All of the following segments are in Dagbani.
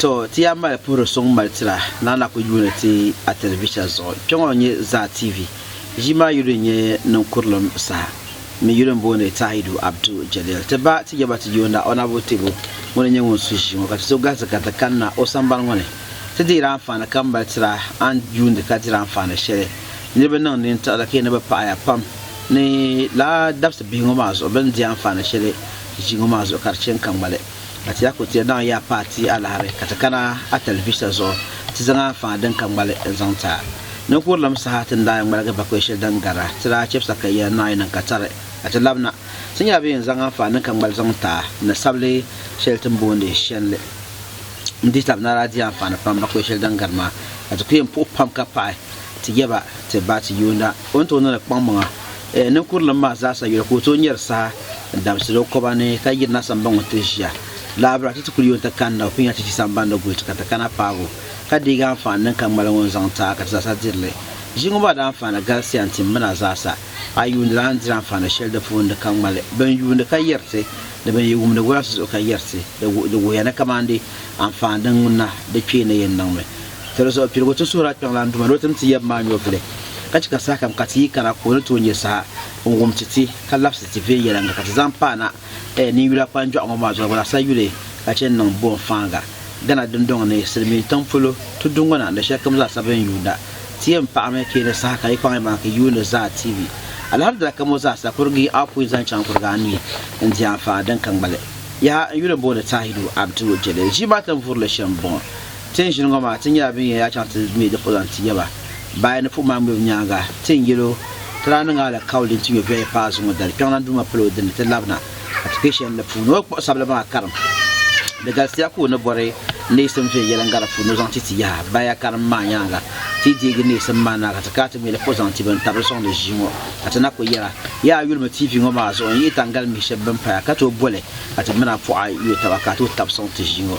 To ti yaa mali puhiri suŋ mali tira na na ku yuuni ti a tɛlivisha zuɣu. Kpɛŋɔ n-nyɛ Zaa TV. Ʒii maa yuli n-nyɛ niŋkurilim saha mini yuli m-booni Tahidu Abdu Jalil. Ti ba ti yaba ti yoonda Honourable Tebo ŋun n-nyɛ ŋun su ʒii ŋɔ ka ti so galisi ka ti kanna o sambani ŋɔ ni ti deeri anfaani kam mali tira a ni yuundi ka diri anfaani shɛli niriba niŋ nintiɣili ka yi ni bi paɣiya pam ni lala dabisi bihi ŋɔ maa zuɣu bɛ ni di anfaani shɛli ʒii ŋɔ maa zuɣu ka di chɛ n-ka ŋmali. Ka ti daa ku ti naŋ ya paai ti alahibu ka ti kana a talivisa zuɣu ti zaŋ a faŋa din ka ŋmali n-zaŋ ti a. Ninkurilim saha ti ni daa yɛn ŋmaligi bakɔi shɛli din gari a, ti daa chɛbisi a ka ya naai niŋ ka tari a ti labi na. Ti nyɛla bɛ yɛn zaŋ a faŋa din ka ŋmali zaŋ ti a ni sabili shɛli ti ni boondi Shenli. N dihi taba na daa di anfaani pam bakɔi shɛli din gari maa ka ti ku yɛn puhi pam ka paɣi ti yaba ti ba ti yuunda o ni tooi niŋdi kpaŋmaŋa Eh, ninkurilim maa zaasa yuli ka o tooi nyari saha n-damsiri o koba ni ka yiri na sambaŋ ŋun ti ʒiya lahabira ti ti kuli yooi ti kani na o pun yɛn ti ʒi samban ni guli ti ka ti kana paagi o ka deegi anfaani din ka ŋmali ŋɔ n-zaŋ ti a ka ti zaasa diri li. Ʒi ŋɔ maa di anfaani galisiya n-tim min a zaasa. A yuuni lana n-diri anfaani shɛli di puuni di ka ŋmali bin yuuni ka yɛri ti ni bin yi wumdi gɔlasi zuɣu ka yɛri ti. Di wuhiya ni kamandi anfaani din ŋuna di kpee ni yɛn niŋmi. Doli zuɣu piligu ti suhir a kpiɔŋlan duma ni o tim ti yab maa nyɔvili, ka chɛ ka sahakam ka ti yi kana ka o ni tooi nya saha n-wum ti ti, ka labisi ti viɛnyɛliŋga ka ti zaŋ paai na ɛɛ ninyula kpanjɔɣu ŋɔ maa zuɣu gba sa yuli ka chɛ n-niŋ boonfaaŋa Ghana dindɔŋ ni silimiin tiŋ polo tuduŋɔna ni shɛlikam zaasa bɛ ni yuunda ti yɛn paɣimi ka yi ni saha ka yi kpaŋ yimaŋa ka yi yuuni zaa TV Alhamdulillah ka mo zaasa kurigi a pui zaŋ chaŋ kurigi a ni n-di anfaani din ka ŋmali yaha n yuli booni Tahiru Abdu Jalil ʒii maa tin vuri li shɛm bɔŋɔ Ti ni ʒini ŋɔ maa, ti nyɛla bɛn yɛn yaa chaŋ ti mi di polo zaŋ ti yaba. Bayi ni puɣ maa ŋmibu nyaaŋa, ti ni yɛl o, Ti daa niŋ alikauli din ti nyɔ viɛli paai zuŋɔ dali, Kpiɔŋlan Duuma palo o dini, ti labina, ka ti kpe shɛli di puuni. O kpuɣisabili maa karim di galisiya ka o ni bɔri neesim viɛnyɛliŋga di puuni ni o zaŋ ti ti yaha. Baya karim maa nyaaŋa, ti yi deegi neesim maa naai ka ti kana ti mi di polo zaŋ ti bɛn tabili sɔŋdi ʒii ŋɔ, ka ti na kul yɛra, Yaa a yulimi TV ŋɔ maa zuɣu n-yihi Taŋgalimihi shɛb bɛn paya ka tooi boli ka ti mina pɔɣa yuli taba ka a tooi tab sɔŋ ti ʒii ŋɔ.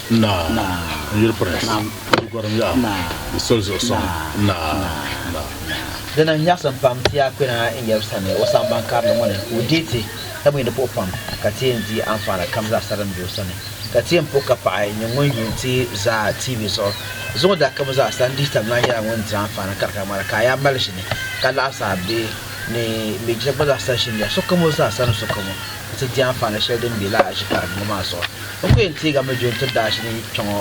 Dina nyaɣisim pam ti a kpɛna n yɛli sani o samban karili ŋɔ ni ka o deei ti, ka mi di puɣi pam, ka ti yɛn di anfaani kam zaasa din be o sani, ka ti yɛn puɣi ka paɣi ni ŋun yuun ti zaa TV zuɣu. Zuŋɔ dakim zaasa n dihi tabilina nyɛla ŋun diri anfaani kari ka ŋmana, ka a yaa mali ʒini ka laɣisi a bihi ni mi jina gba zaasa ʒini ya sokam o zaasa ni sokam o. nti di anfaani shɛli din be lala aʒi karibu ŋɔ maa zuɣu. N ku yɛn teegi a mi John tirida aʒi ni kpe ŋɔ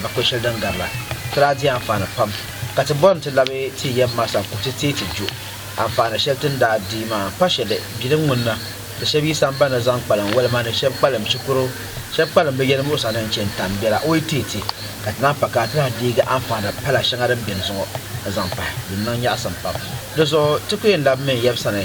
bakpe shɛli din gari la. Ti daa di anfaani pam, ka ti bɔri ni ti labi ti yɛm ma sani ku ti teei ti Jo. Anfaani shɛli ti ni daa di maa pa shɛli bilim ŋun na di shɛb yi samban ni zaŋ kpalim woli ma ni shɛb kpalim shikuru shɛb kpalim bɛ yɛlimuɣisa ni n-chani tam bɛ la o yi teei ti, ka ti naan pa ka a ti lahi deegi anfaani pala shɛŋa din beni zuɣu n-zaŋ pahi din niŋ nyaɣisim pam. Di zuɣu ti ku yɛn labimi n yɛb sani.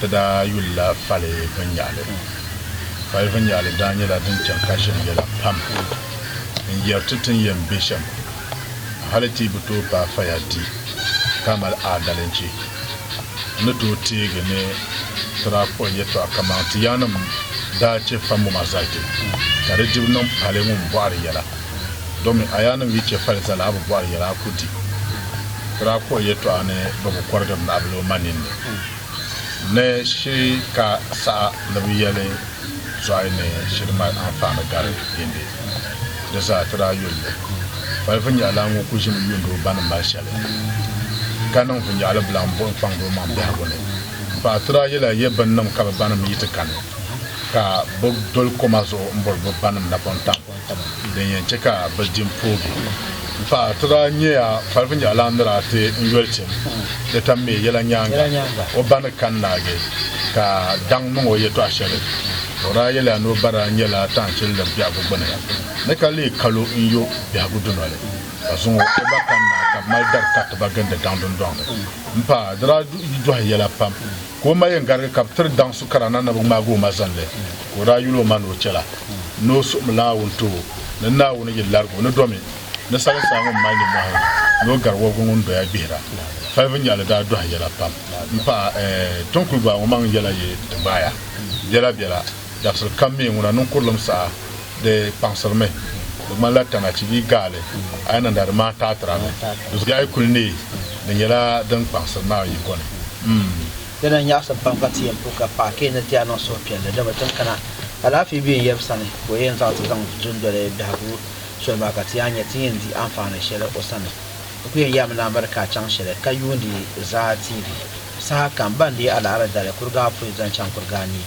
Di daa yulila fali vinnyaɣili. Fali vinnyaɣili daa nyɛla din chaŋ ka ʒiri yɛla pam n-yɛri ti ti ni yɛn be shɛm. Hali ti yi bi tooi paai faya di ka mali aadalichi. N ni tooi teegi ni ti daa kpuɣi yɛtɔɣa kaman ti yaannim daa chɛ fambu maa zali ti, ka di dibu niŋ pali ŋun bɔhiri yɛla. Domin a yaannim yi chɛ fali zali a bi bɔhiri yɛla a ku di. Ti daa kpuɣi yɛtɔɣa ni bɛ bi kɔrigiri naɣibila o ma ninni. ni shiri ka saha ni bɛ yɛli zɔhi ni shiri mali anfaani gari yindi. Di zaa ti daa yulli. Fali vinyɛhila ŋɔ ku ʒimi yuuni o ba ni mali shɛli, ka niŋ vinyɛhili bila m-buɣi n-kpaŋdi o maŋ biɛhigu ni. M paɣa ti daa yɛli a yɛ binnim ka bɛ banim yi ti kani, ka bɛ doli koma zuɣu m-bɔri bɛ banim napɔŋ tam. Din yɛn chɛ ka bɛ di m-poogi m-paai ti daa nyɛya kpalifu nyɛɣilan ni daa ti n yoli tim di tam mi yɛla nyaaŋa o ba ni kani naagi ka daŋ niŋ o yɛtɔɣ shɛli o daa yɛliya ni o ba daa nyɛla taanchilindi biɛhigu gbuni ni ka leei kalo n yo biɛhigu dunoli ka zaŋ o ba kani naai ka bɛ mali dari kariti ba gindi daŋ dundɔŋ ni m-paai di daa yi dɔhi yɛla pam ka o ma yɛn garigi ka bɛ tiri daŋ su kara na ni bɛ ŋmaagi o ma zani li, ka o daa yuli o ma ni o chɛla ni o suhim Naawuni ti o, ni Naawuni yi larigi o ni domi ni sali saa ŋun mali nimmɔhi ni o gari wɔbigu ŋun doya gbihira. Falibu nyaɣili daa dɔhi yɛla pam m-pahi, Ɛɛ, Tonkuli Baa ŋɔ maŋ yɛla yi ti gbaai a biɛlabiɛla? Dabisili kam mi ŋuna niŋ kurilim saha di kpaŋsiri mi. Di ŋmanila tana chi bee gaali a yi niŋda di maa taatira mi. Di zuɣu a yi kuli neei di nyɛla din kpaŋsiri ni a yiko ni. M. Dina n-nyaɣisim pam ka ti yɛn puhi ka paɣa ka yi ni ti a niŋ suhupiɛlli dama ti ni kana alaafee be n yab sani ka o yɛn zaŋ ti zaŋ dundoli biɛhigu soli maa ka ti yaa nya ti ni yɛn di anfaani shɛli o sani. N kuli yɛn yaami ni a miri ka a chaŋ shɛli ka yuundi zaa TV saha kam. Ba n-deei a laɣiri dali kuriga apoin zaŋ chaŋ kuriga anii.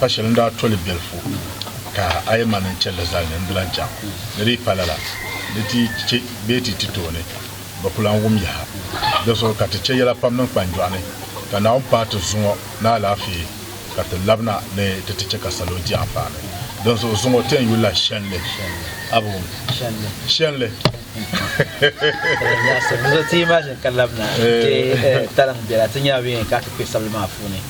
Pa shɛli n daa to li biɛlifu ka a yi ma ni n chɛ li zali ni n di lan chaŋ. Di dii pa lala ni ti chɛ bee ti ti tooni bɛ ku lan wum yaha. Di zuɣu ka ti chɛ yɛla pam niŋ kpanjɔɣu ni, ka Naawuni paai ti zuŋɔ ni alaafee ka ti labina ni ti ti chɛ ka salo di anfaani. Dinzuɣu zuŋɔ ti yɛn yuli la shɛlli a bi wum shɛli.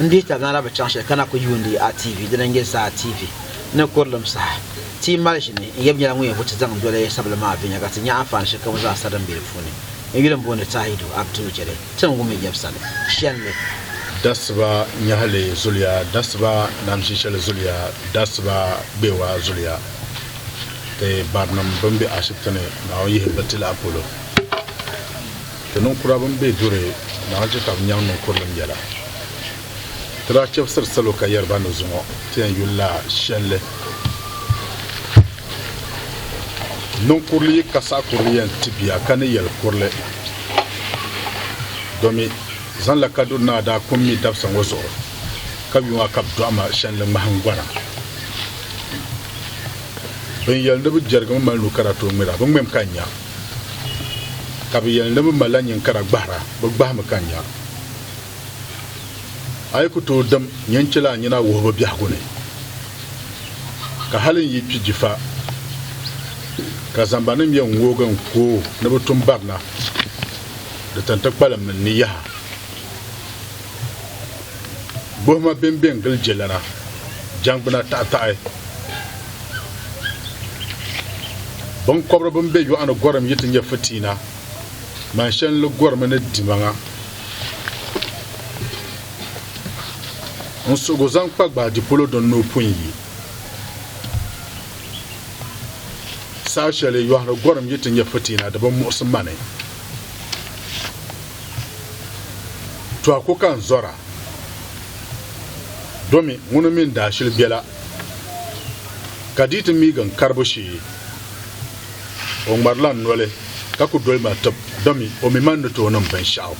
Ndita nara bi chaŋ shɛli kana ku yuundi a TV dina nyɛ Zaa TV ni kurilim saha ti yi mali ʒini n yɛbi nyɛla ŋun yɛn vuti zaŋ doli sabili maa viɛnyɛla ka ti nya anfaani shɛlikam zaa sa din be di puuni n yuli m-booni Tahidu Abdul Jɛlɛ Tiŋgu mi yɛbisali shɛl ni. Dasiba nyɛhili zuliya dasiba namsi shɛli zuliya dasiba gbeewa zuliya ti barinim bɛn be ashibiti ni Naawuni yihi ba ti lahi polo ti ninkura bɛn be duri Naawuni chɛ ka bɛ nyaŋ ninkurilim yɛla ti daa chɛbisiri salo ka yɛri ba ni zuŋɔ ti yɛn yuli la shɛli Niŋ kurili yi ka saɣi kurili yɛn ti bia ka ni yɛli kurili domi zaŋla kaduri naa daa kum mi dabisa ŋɔ zuɣu ka yuŋ a ka bi dɔɣi ma shɛnli ŋmahingbana bin yɛli ni bi jɛrigimi mali nu kara tooi ŋmira bi ŋmɛm ka nya ka bi yɛli ni bi malila nyin kara gbahira bi gbahimi ka nya a yi ku tooi dim nyɛ n chɛla a nyina wuhibu biɛhigu ni, ka hali n yi kpi jifa ka zambaninim yɛn ŋoogi n ku o ni bɛ tum barina, di tin ti kpalim min ni yaha. Gbuhima bɛn bɛn gili jɛlana jɛngbuna taɣitaɣi, biŋkɔbiri bɛn be yɔɣu ni gɔrim yi ti nyɛ fitiina, man shɛli n-li gɔrimi ni dimaŋa. N suhigu zaŋ kpa gbaadi polo din ni o pun yi. Saha shɛli yɔhiri gɔrim yi ti nyɛ fitiina di bi muɣisi ma ni. Tɔhiku ka n zɔra domi ŋuni mini daashili bela ka di yi ti miigi n karibu shee. O ŋmarila n noli ka ku doli ma tib, domi o mi man ni tooi niŋ binshɛɣu.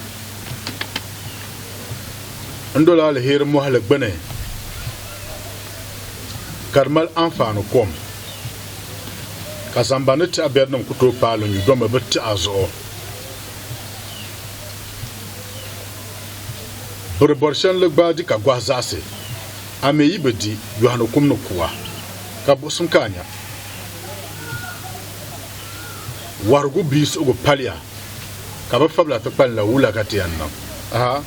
N dol aliheri mɔhili gbini ka di mali anfaani kom, ka zambani tɛha biɛrinim ku tooi paai li nyu, domi bɛ tɛha zuɣu bɛ di bɔri shɛli ni gbaai di ka gɔhi zaɣisi. A mi yi bi di, yɔhi ni kum ni kuwa, ka buɣisim ka a nya. Wɔhirigu bia suhigu paliya ka bɛ fabila ti kpalinla wula ka ti yɛn niŋ? Aha!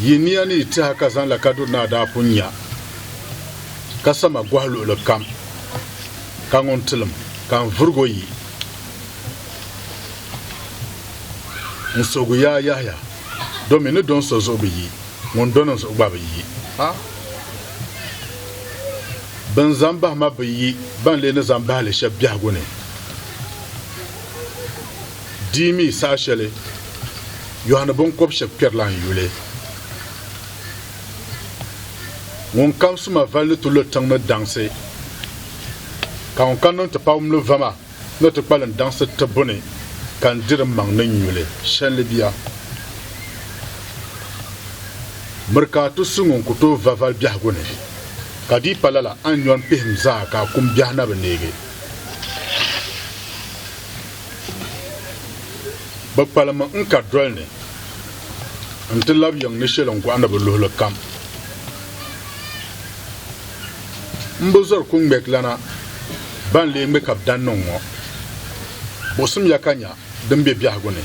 Yi nia ni yi tiha ka zaŋla kaduri naa daa pun nya ka sama gɔhi luɣili kam ka ŋun tilim ka n vurigo yi n suhigu yaa yahiya domi ni do n so zuɣu bi yi. ŋun do ni zuɣu gba bi yi. A Bɛn zan bahi ma bi yi ban lee ni zan bahi li shɛb biɛhigu ni. Di yi mi saha shɛli yɔhi ni biŋkɔb shɛb kpɛrila n yuli, ŋun kabisi ma vali ni ti lo tiŋ ni daŋsi, ka ŋun kan ni n ti pawumli va ma. ni ti kpalim daŋsi tibbu ni ka n diri m maŋ ni n nyu li shɛlli bia. Miri ka a ti su ŋun ku tooi va vali biɛhigu ni, ka di yi pa lala a ni nyɔri m pihim zaa ka a kum biɛhi na bi neegi. Bɛ kpalim n ka doli ni n ti lab yiŋ ni shɛli n gɔɣi ni bi luhili kam. Mbo zɔri ku ŋmɛgilana ban lee ŋme ka bɛ daa niŋ ŋɔ. Buɣisim ya ka nya din be biɛhigu ni.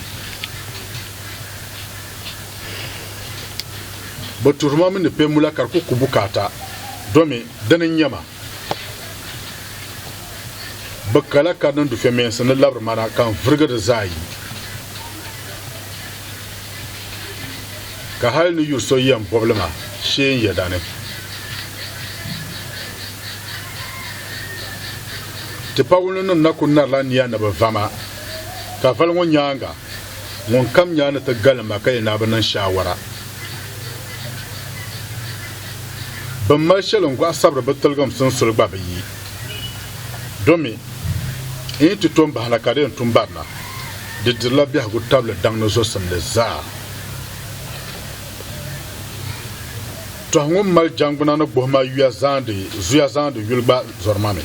Bɛ tuhiri ma mi ni kpe mula ka di ku ku bukaata domi dini n-nya ma. Bɛ kala ka di niŋ dufɛmeensi ni labiri ma na ka n virigi di zaa yi. Ka hal ni yu so yɛn bɔbili ma shee n yɛda ni, Tipawulinim na ku narila nia ni bɛ va ma, ka vali ŋɔ nyaaŋa ŋunkam nyaa ni ti galim ma ka yɛn naai bi niŋ shaawara. Bɛn mali shɛli n-gɔhi sabiri bɛ tiligim sunsuli gba bi yi, domi n yi ti tom bahi na ka di yɛn tum barina. Di dirila biɛhigu tabili daŋdi zosimli zaa. Tɔhi ŋun mali jangbuna ni gbuhima yuya zaandi zuya zaandi yuli gba zɔrima mi.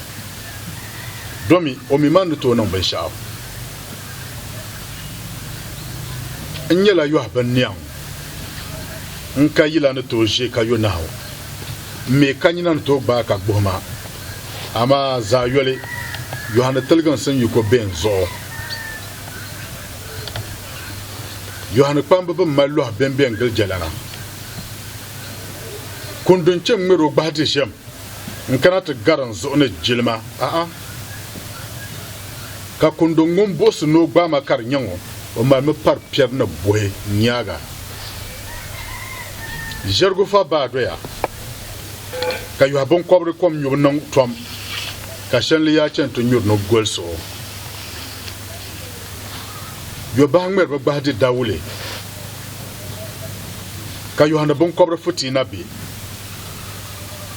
Domi o mi man ni tooi niŋ binshɛɣu. N nyɛla yɔhi binniɛŋ, n ka yila ni tooi ʒe ka yo nahu, m mi ka nyina ni tooi gbaai ka gbuhima. Amaa zaɣ yoli, Yohani tiliginsi n-yi ko bɛ n zuɣu. Yohani kpamba bi mali lɔh bɛmbɛ n-gili jɛlana. Kundi n-chɛ ŋ-ŋmɛr o gbahi di ʒiɛm n-kana ti gar n zuɣu ni jilima, a'a! Ka kundi ŋun buɣisi ni o gbaai ma ka di nya ŋɔ, o malimi pari piɛri ni buhi n-nyaaga. Ʒɛrigufa baa doya. ka yɔhi binkɔbiri kom nyubu niŋ tɔm, ka shɛnli yaa chani ti nyuri ni goli suɣu. Yɔbahi ŋmɛri bɛ gbahi di dawule, ka yɔhi ni binkɔbiri futii na be.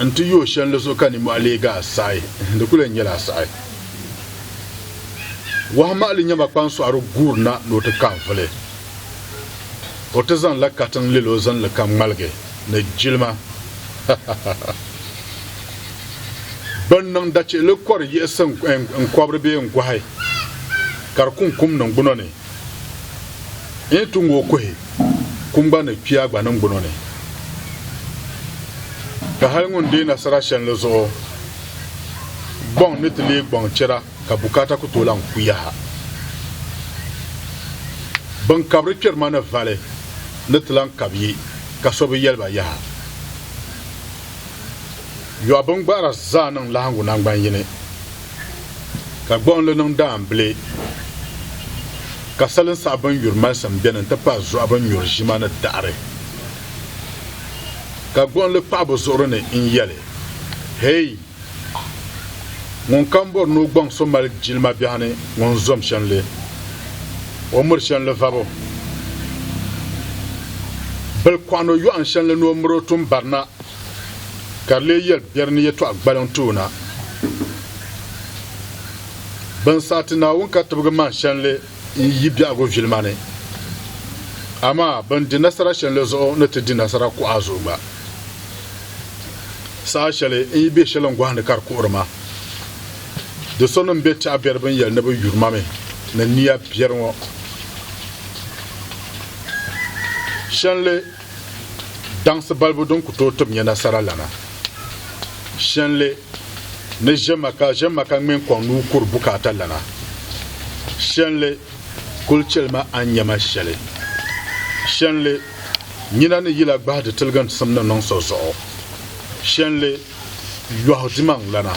N ti yooi shɛnli zuɣu ka nimɔhi leegi a saɣi, di kul yɛn nyɛla a saɣi. Wɔhu maɣili nyama kpaŋsɔɣiri guuri na ni o ti ka n vuli. O ti zaŋ la katiŋ lɛl o zinli ka ŋmaligi. ni jilima ha ha ha ha Bɛn niŋ dachihili kɔri yiɣisi n-kɔbiri bee n-gɔhi ka di kuŋ kum niŋ gbuno ni n yi tu ŋ-o kuhi kum gba ni kpiya gba niŋ gbuno ni ka hali ŋun deei nasara shɛlli zuɣu gbɔŋ ni ti leei gbɔŋ chɛra ka bukaata ku tooi lahi ku yaha. Bin kabiri kpɛri ma ni vali ni ti lahi kab yi ka so bi yɛli ba yaha. Yɔɣu bin gbahira zaa niŋ lahiŋgu naŋgban yini, ka gbuɣinli niŋ daambile, ka salin saɣa bin nyuri malisim beni n-ti pahi zuɣa bin nyuri ʒima ni daɣiri. Ka gbuɣinli kpaɣi bɛ zuɣuri ni n-yɛli, Hei! Ŋun kam bɔri ni o gbaŋ so mali jilima biɛhi ni ŋun zom shanli, o miri shanli vabo. Bil kɔɣi no yɔɣin shanli ni o miri o tum bari na, ka di lee yɛli biɛri ni yɛtɔɣa gbaliŋ ti o na. Bin saha ti Naawuni ka tibigi man shanli. n yi biɛhigu vilima ni. Amaa bɛn di nasara shɛlli zuɣu ni ti di nasara kuɣa zuɣu gba. Saha shɛli n yi be shɛli n gɔhindi ka di kuɣiri ma. Do so nim be tɛɣu biɛri bini yɛli ni bɛ yuri ma mi ni niya biɛri ŋɔ. Shɛlli daŋsi balibu din ku tooi tib nya nasara lana. Shɛnli ni ʒemaka ʒemaka ŋmɛn kɔŋ nuu kuri bukaata lana. Shɛnli kuli cheli ma a ni nya ma shɛli. Shɛnli nyina ni yila gbahi di tiligintisim ni niŋ so zuɣu. Shɛnli yɔhi dimaŋ lana.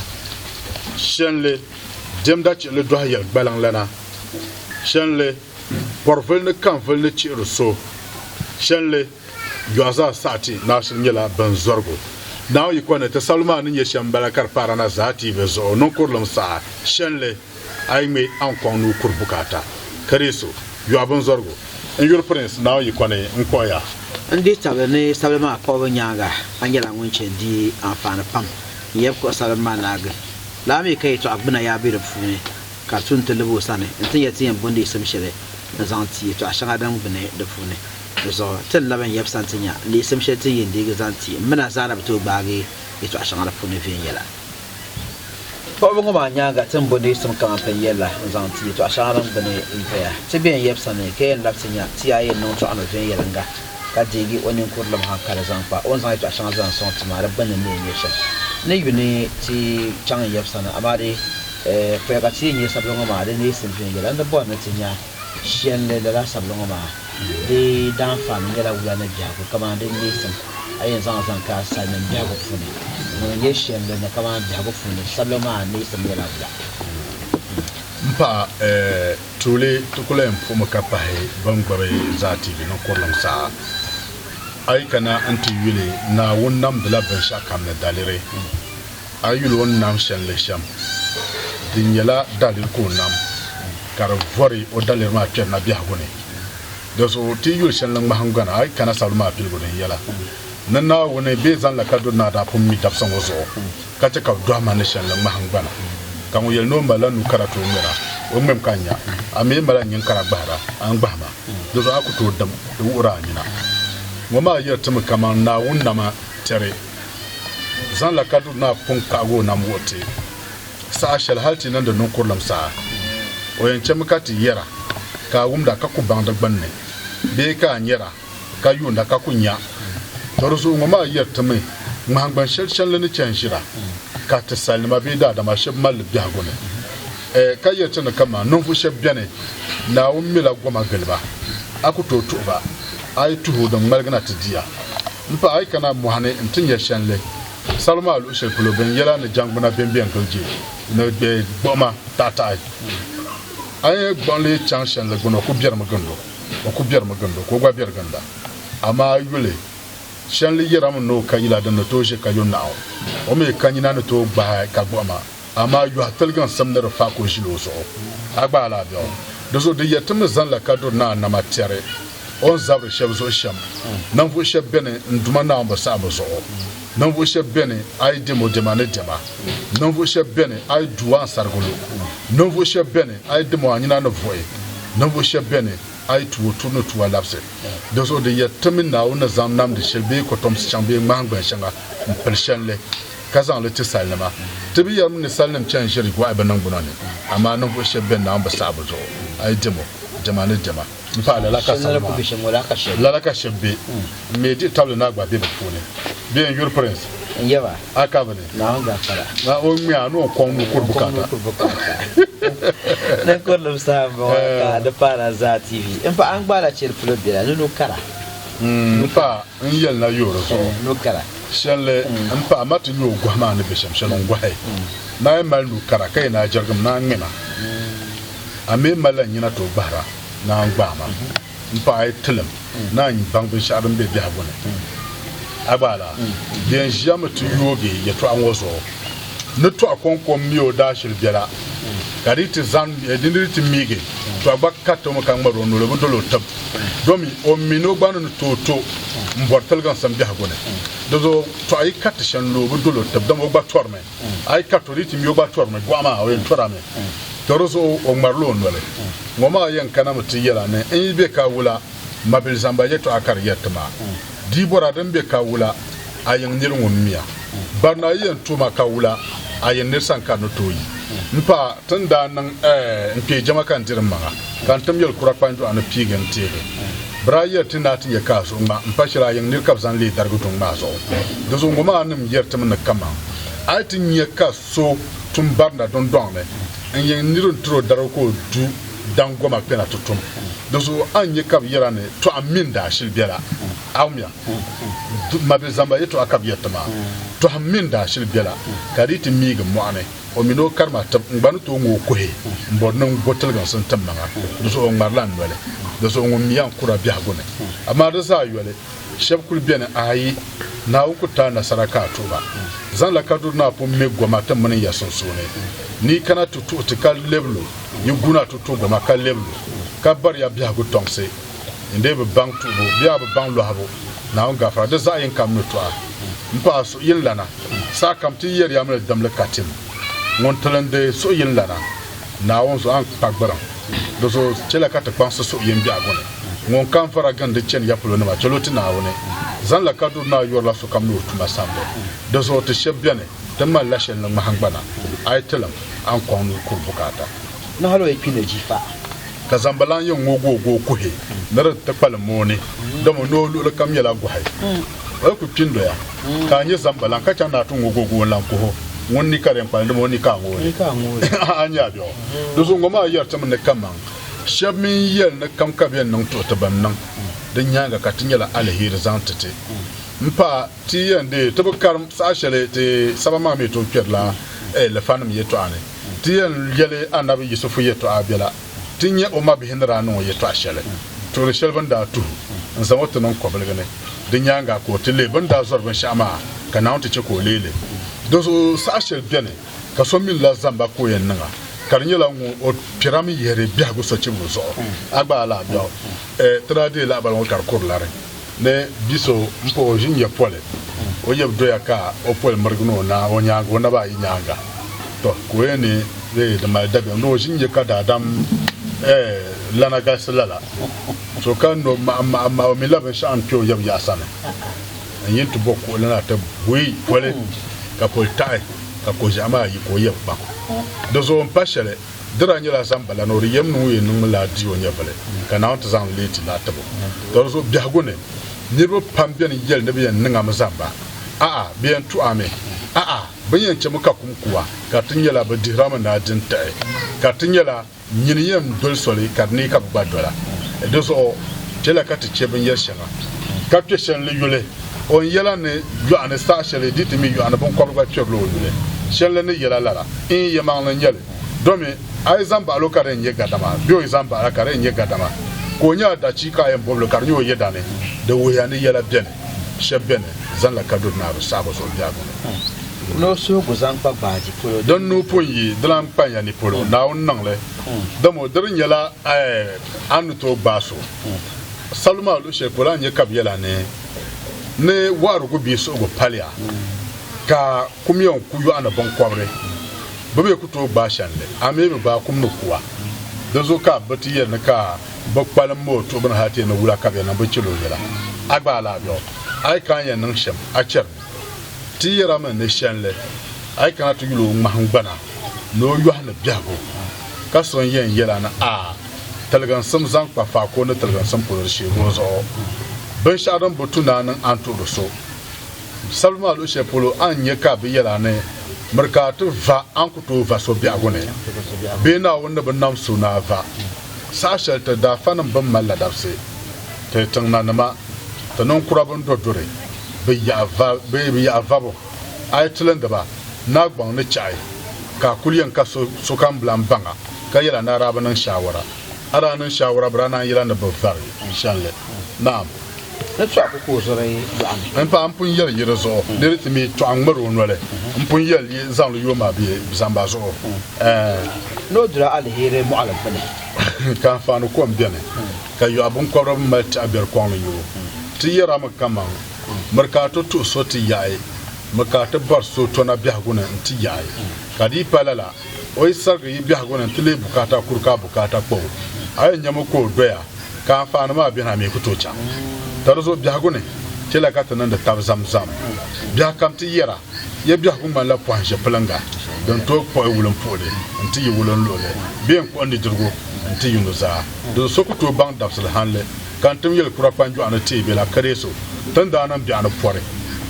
Shɛnli diɛmda chiɣili dɔhi yɛligbaliŋ lana. Shɛnli Bɔrivili ni Kanvili ni chihiri so shɛnli yɔɣu zaa saha ti naashili nyɛla bin zɔrigu Naawuni yiko ni. Ti sabili maa ni nyɛ shɛm m-bala ka di paara na zaa tiivi zuɣu niŋkurilim saha shɛnli a yi ŋme a ni kɔŋ nuu kuri bukaata ka deei so yɔɣu binzɔrigu. N yuri Pirinsi Naawuni yiko ni n kpuɣi ya. N di tabili ni sabili maa kpuɣibu nyaaŋa a nyɛla ŋun chɛ n-di anfaani pam n yɛn kpuɣi sabili maa naagi. Lala mi ka yɛtɔɣa gbuna yaa be di puuni. ka su n-ti lib o sani nti yɛli ti yɛn bondi yisim shɛli ni zaŋ ti yɛtɔɣ shɛŋa din gbini di puuni. Di zuɣu ti ni labi n yɛbisa nti nya ni yisim shɛli ti ni yɛn deegi zaŋ ti m mina zaa na bi tooi gbaagi yɛtɔɣ shɛŋa di puuni viɛnyɛla. Kpuɣibu ŋɔ maa nyaaŋa ti ni bondi yisim kaman pin yɛl la n-zaŋ ti yɛtɔɣ shɛŋa din gbini n-doya. Ti bɛ yɛn yɛbisa ni ka yɛn labi ti nya ti yaa yɛn niŋ tɔɣino viɛnyɛliŋga ka deegi o ninkurilim haŋkali zaŋ kpa o ni zaŋ yɛtɔɣ shɛŋa zaŋ sɔŋ ti maa di gbinni ni o nyɛ shɛm ni yuni ti chaŋ n-yɛbisa ni amaa di Paya ka ti yi nya sabili ŋɔ maa di neesim viɛnyɛla, n ni bɔri ni ti nya shɛlli lala sabili ŋɔ maa di daanfaani nyɛla wula ni biɛhigu kamani din neesim a yɛn zaŋ zaŋ ka salinim biɛhigu puuni. Ŋuni n-nyɛ shɛlli ni kamani biɛhigu puuni sabili maa neesim nyɛla wula. M-paɣa, tuuli ti kul yɛn puhimi ka pahi bɛn gbibi Zaa TV ni kurilim saha. A yi kana nti yuli, Naawuni namdila binshɛɣukam ni daliri. A yuli o ni nam shɛli ni shɛm, di nyɛla daliri ka o nam, ka di vɔri o daliri maa kpɛri na biɛhigu ni. Dinzuɣu ti yi yuli shɛli ni ŋmahingbana, a yi kana sabili maa piligu din yɛla ni Naawuni bee zaŋ la kaduri ni a daa pun mi dabisa ŋɔ zuɣu, ka chɛ ka bɛ dɔhi ma ni shɛli ni ŋmahingbana. Ka ŋun yɛli ni o malila nuu kara ti o ŋmɛra, o ŋmɛmi ka nya, a mi yi malila nyin kara gbahira, a ni gbahi ma. Dinzuɣu a ku tooi dim di wuhiri a nina. Ŋɔ maa yɛri ti mi kaman Naawuni na ma tɛri. zaŋ la ka du naa pun kpahigi o nam wuhi ti saha shɛli hal ti niŋdi niŋkurilim saha. O yɛn chɛmi ka ti yɛra ka a wumda ka ku baŋ di gbunni bee ka a nyɛra ka yuunda ka ku nya. Tɔrizuɣu ŋɔ maa yɛri ti mi ŋmahingbani shɛli chanli ni chani ʒira ka ti salinima bee daadama shɛb mali li biɛhigu ni, ka yɛri ti ni kaman ninvuɣ shɛb beni Naawuni mila goma gili ba, a ku tooi tuhi ba, a yi tuhi o din ŋmaligi na ti di a. M paɣa, a yi kana mɔɣuni nti nya shɛnli, salo maa luɣ shɛli polo bɛn yɛla ni jɛŋgbuna bɛmbɛ n-gili je ni bɛ gbuɣima taɣitaɣi. A yi gbuɣinli yi chaŋ shɛnli gbini, o ku biɛrimi gindo, o ku biɛrimi gindo ka o gba biɛri ginda. Amaa a yuli, shɛnli yɛrimi ni o ka yila din ni tooi ʒe ka yo naɣu, o mi ka nyina ni tooi gbahi ka gbuɣima. Amaa yɔhi tiliginsim ni di faak o ʒili o zuɣu, a gbaai la a biɛɣu. Di zuɣu di yɛri ti mi zaŋ la kaduri ni a nama tɛri o n zabiri shɛb zuɣu shɛm. Ninvuɣ shɛb beni n Duuma Naawumbi saɣibu zuɣu. Ninvuɣ shɛb beni a yi dɛm o dɛma ni dɛma. Ninvuɣ shɛb beni a yi du o a ni sarigi lu. Ninvuɣ shɛb beni a yi dim o a nyina ni vuɣi. Ninvuɣ shɛb beni a yi tu o turi ni tu a labisi. Di zuɣu di yɛri ti mi Naawuni ni zaŋ namdi shɛli bee kɔtomsi chaŋ bee ŋmahingbani shɛŋa m-pili shɛlli. ka zaŋ li ti salinima. Ti bi yɛrimi ni salinim chani ʒiri gɔhi bɛ niŋgbuna ni, amaa ninvuɣ shɛb bɛn naawuni bi saɣi bɛ zuɣu, a yi dɛm o, dɛma ni dɛma. M paɣ lala ka salim maa, lala ka shɛb be. M mi diɣi tabili ni a gba be bɛ puuni. Bɛ yɛn yuri Prince? A kabi ni? Naa o ŋmɛ a ni o kɔŋ ni o kuri bukaata. M paɣ n yɛli na yoori zuɣu. Shɛli m-pahi ma ti nyoo gɔhi maa ni be shɛm shɛli n-gɔhi. Naa yi mali nu kara ka yi naa jɛrigim, naa ŋme ma. A mi yi malila nyina tooi gbahira, naa n-gbaai ma. M-paɣa yi tilim, naa n-baŋ binshɛɣu din be biɛhigu ni. A gba a la? Di yɛn ʒiya mi ti yoogi yɛtɔɣa ŋɔ zuɣu ni tɔɣu kɔŋkom mi o daashili biɛla, ka di yi ti zani, di ni di ti miigi tɔɣu gba kariti o mi ka ŋmari o noli, o bi dol o tib. domi o mini o gba ni ni tooi to m-bɔri tiliginsim biɛhigu ni. Di zuɣu tɔɣu yi kariti shɛli ni o bi dol o tib dama o gba tɔrimi. A yi kariti o di yi ti mi o gba tɔrimi, gɔɣu maa o yɛn tɔrami. To di zuɣu o ŋmarila o noli. Ŋɔ maa yɛn kanami ti yɛl a ni n yi be ka wula, mabilizamba yɛtɔɣa ka di yɛri ti ma. Dibɔra din be ka wula a yiŋ nir ŋun mia? Barina yi yɛn tuuma ka wula a yiŋ nir san ka ni tooi yi? M paɣa, ti ni daa niŋ ɛɛ n kpee jɛma ka n diri m maŋa, ka n tim yɛli kura kpanjɔɣu ni piigi n teegi. Bira yɛri ti naa ti nya ka a suhu ŋma m pa shɛli a yiŋ nir ka bɛ zaŋ leei darigi duŋ maa zuɣu. Dinzuɣu ŋɔ maa nim yɛri ti mi ni kaman a yi ti nya ka so tum barina dundɔŋ ni n yiŋ nir n tir o darigu ka o du, daŋ goma kpɛna ti tum. Dinzuɣu a ni nya ka bɛ yɛra ni tɔɣim mini daashili bela? Aumia, Mabir zamba yɛtɔɣa ka bɛ yɛri ti maa. Tɔɣim mini daashili bela, ka di yi ti miigi mɔɣuni, o mini o karimatib n gba ni tooi ŋɔ o kuhi m-bɔri ni n bo tiliginsi n-tim maŋa. Dinzuɣu o ŋmarila n noli. Dinzuɣu ŋun mi ya n kura biɛhigu ni. Amaa di zaa yoli. Shɛb kuli beni ayi, Naawuni ku taai nasara ka a tuhi ba. Zaŋla kaduri na pun me goma ti mini ya sunsuuni, ni yi kana ti tuhi ti ka lɛbi lu, yi guuna ti tuhi goma ka lɛbi lu, ka bari ya biɛhigu tɔŋsi. N dee bi baŋ tuhibu bee a bi baŋ lɔhibu Naawuni gafara, di zaɣ yiŋkam ni tɔha. M paɣa suhuyinlana, sahakam ti yi yɛri ya mi ni dimli ka tim. Ŋun tilindi suhuyinlana. Naawuni zuɣu, a ni kpa gbiriŋ. Di zuɣu chɛla ka ti kpaŋsi suhi yɛn biɛhigu ni. Ŋun kam vara gindi chani ya polo nima, chɛl o ti Naawuni. Zaŋla ka duri naa yɔrila sokam ni o tuma samdi. Di zuɣu ti shɛb beni, ti mali la shɛli ni ŋmahingbana. A yi tilim, a ni kɔŋ ni yi kuri bukaata. Ni hal o yi kpi ni jifa. ka zambalan yɛn ŋooi gooi gooi kuhi ni di ti kpalim mooni, dama noo luɣili kam nyɛla gɔhi. O yi ku kpi n-doya, ka a nya zambalan ka chaŋ ni a ti ŋooi gooi gooi n-lan kuh o, ŋun ni ka di yɛn kpalim, dama o ni ka a ŋooi li. A nya bɛ ɔ? Di zuɣu ŋɔ maa yɛri ti mi ni kaman shɛb mi n-yɛli ni kam ka bɛ yɛn niŋ tuhi ti bɛn niŋ di nyaaŋa ka ti nyɛla aliheri zaŋ ti ti. M paɣa! Ti yɛn di ti bi karim saha shɛli ti saba maa mi tooi kpɛrila ɛɛlifanim yɛtɔɣa ni. Ti yɛn yɛli Anabi Yisifu yɛtɔɣa bela ti nya o mabihi ni daa niŋ o yɛtɔɣa shɛli tuhiri shɛli bɛ ni daa tuhi n-zaŋ o ti niŋ kɔbiligi ni. Di nyaaŋa ka o ti leei bɛ ni daa zɔri binshɛɣu maa, ka Naawuni ti chɛ ka o leei li. Dinzuɣu saha shɛli beni ka so mini la zamba ka o yɛn niŋ a, ka di nyɛla ŋun o kpɛra mi yihiri biɛhigu sochibigu zuɣu, a gba a lahi biɛɣu. Ti daa deei lahabali ŋɔ ka di kuri lari. Ni bi so m-pa o ʒinjɛ poli, o yeb doya ka o poli mirigi ni o na o nyaaŋa o naba ayi nyaaŋa. Tɔ! Ka o yɛn ni bee di mali dabiɛm ni o ʒinjɛ ka daadam eh lana galisi lala so ka no m-maɣimaɣi o mi la binshɛɣu n-kpe o yeb yaɣa sani n-yin ti bo kuɣili na ti buyi poli ka poli taɣi ka koʒiɛɣu maa yi ka o yeb kpaŋ di zuɣu m-pa shɛli. Di daa nyɛla zamba la ni o di yɛm niŋ o yɛn niŋmi la di o nyɛvili ka Naawuni ti zaŋ leeti la tib o. Dolizuɣu biɛhigu ni, niriba pam beni yɛli ni bɛ yɛn niŋ a mi zamba. A'a, bɛ yɛn tu a mi. A'a, bɛ ni yɛn chɛmi ka kum ku a, ka ti nyɛla bɛ dihir a mi ni a di n-tiɣi, ka ti nyɛla nyini yɛn doli soli ka di ni ka bɛ gba dola. Di zuɣu chɛla ka ti chɛ binyɛr shɛŋa, ka kpe shɛli ni yuli. O ni yɛla ni yɔɣu ni saha shɛli di ti mi yɔɣu ni binkɔbiri gba kpɛbila o yuli, shɛli la ni yɛla lala, Iin yɛmaŋli n-nyɛ li, domi a yi zaŋ baɣil o ka di yɛn nyɛ gadama, bee o yi zaŋ baɣil a ka di yɛn nyɛ gadama, ka o nya a dachiika a yɛn bɔbi li ka di nyɛ o yɛda ni, di wuhiya ni yɛla beni shɛb beni zanila kaduri ni a bi saɣigi zuɣu biɛhigu ni. Ni o suhigu zaŋ kpa gbaaji polo. Din nuu pun yi, di lan kpa ya ni polo, Naawuni niŋ li. Dama o diri nyɛla a ni tooi gbaai so. Salu maa luɣi shɛli polo a ni nya ka bɛ yɛla ni ni wɔɣirigu bee suhigu paliya ka kumiya n ku yɔɣi ni biŋkɔbiri, bɛ bɛ ku tooi gbaai shɛli li, amii bɛ gbaai kum ni kuwa. Dinzuɣu ka bɛ ti yɛli ni ka bɛ kpalim mooi tuɣibu ni hali ti yɛn ni wula ka bɛ yɛn niŋ binchila o yɛla. A gba a lahi bɛ hɔ, a yi ka a ni yɛn niŋ shɛm, a chɛri ni ti yɛra mi ni shɛlli a yi kana ti yuli o ŋmahingbana ni o yɔhi ni biɛhigu ka so n-yɛn yɛla ni a tiliginsim zaŋ kpa faako ni tiliginsim polo di sheego zuɣu. Binshɛɣu din bo tu ni a niŋ a ni tuhiri so sabibu maa luɣi shɛli polo a ni nya ka bɛ yɛl a ni miri ka a ti va a ni ku tooi va so biɛhigu ni bee Naawuni ni bi nam so ni a va. Saha shɛli ti daafanim bɛn mali ladabsi, ti tiŋnanima, ti ninkura bɛn do duri bɛ yaɣa vabo, A yi tilindi ba, naa gbaŋ ni chɛɣi ka a kul yɛn ka sokam bilan baŋa ka yɛl a ni a daa bi niŋ shaawara. A daa niŋ shaawara bɛ daa naan yɛl a ni bi vari shɛlli. Naam! N paɣ, m pun yɛli yi di zuɣu ni di ti mi tɔɣ ŋ-ŋmɛr o noli, m pun yɛl yi zaŋli yo ma bee zamba zuɣu. Ɛɛn! Ka anfaani kom beni ka yɔɣi biŋkɔbiri bɛn mali tɛɣu biɛri kɔŋ ni yo ti yɛrami kaman Miri ka a to tuhi so ti yaɣi, mi ka a ti bɔri so tɔna biɛhigu ni n-ti yaɣi. Ka di yi pa lala, o yi sarigi yi biɛhigu ni nti leei bukaata kuri ka a bukaata kpa o. A yɛn nyami o ka o doya, ka anfaani maa beni a mi ku tooi chaŋ. Ka di zuɣu biɛhigu ni, chɛliya ka ti niŋdi tab zamzam. Biɛhikam ti yɛra, ya biɛhigu ŋmanila pɔhim ʒiɛpiliŋga din tooi kpuɣi wulimpuhili nti yi wulinluɣili bee n-kpuɣi nidirigu nti yi nuzaa. Dinzuɣu so ku tooi baŋ dabisili hanli. Ka n tim yɛli kura kpanjɔɣu ni teei bela Kadeeso, ti ni daa niŋ biɛɣu ni pɔri,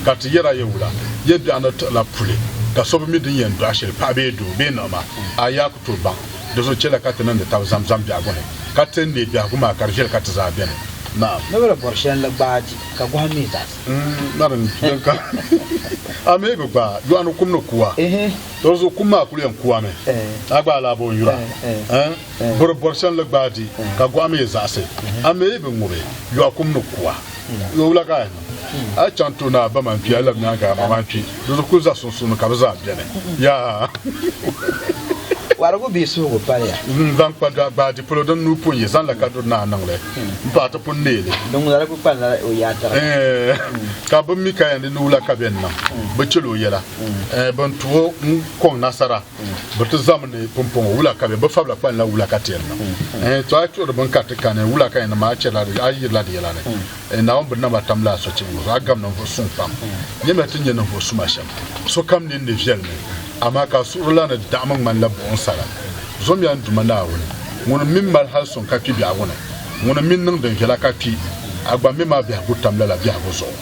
ka ti yɛr a ya wula, ya biɛɣu ni tiɣila puli, ka so bi mi di ni yɛn dɔɣi shɛli, paɣ bee doo, bee niɣima, a yaa ku tooi baŋ. Di zuɣu chɛliya ka ti niŋdi tab Zamzam biɛhigu ni, ka ti neei biɛhigu maa ka di viɛli ka ti zaa beni. Naam. Noba ni bɔri shɛli n-li gbaai di, ka gɔhim mi zaɣisi. Narim, din ka a mi bi gbaai yɔɣu ni kum ni kuwa, tɔ di zuɣu kum maa kul yɛn kuwami, a gbaai laa bɔ n yura? Buri bɔri shɛli ni gbaai di, ka gɔɣa mi yi zaɣisi, a mi yi bi ŋubi, yɔɣu kum ni ku a. Yo, wula ka a niŋ? A yi chaŋ tooni a ba mani kpi, a yi labi nyaaŋa a ma mani kpi. Di zuɣu kuli za sunsuuni ka bɛ zaa beni. Yaa! Warigu bee suhigu pali ya? N zaŋ kpa gbaai di polo, din nuu pun yi zaŋ la ka duri ni a niŋ li. M paɣa ti pun neei li. Din ŋuna kuli kpanila o yaa tariga. Ɛɛh! Ka bɛ mi ka yɛn di ni wula ka bɛ ni niŋ, bɛ chɛl o yɛla. Ɛɛh! Bɛ ni tu o n-kɔŋ nasara. bɛ ti zami ni pumpɔŋɔ wula ka bɛ bɛ fabila kpalinla wula ka teeri na. Ɛɛ, to a yi chuɣiri bini ka ti kani wula ka yɛn niŋ maa, a chɛrila di, a yirila di yɛla ni. Ɛɛ, Naawuni bini naba tamla a sochibigi zuɣu, a gam ninvuɣ suŋ pam. Nyamiya ti nya ninvuɣ suma shɛm. Sokam nini ni viɛlimi, amaa ka a suhurila ni daɣimi ŋmanila buɣim sala. Zɔmiya n Duuma Naawuni, ŋun m min mali hali suŋ ka kpi biɛhigu ni, ŋun m min niŋ din viɛla ka kpi. A gba m mi maa biɛhigu tamla la biɛhigu zuɣu.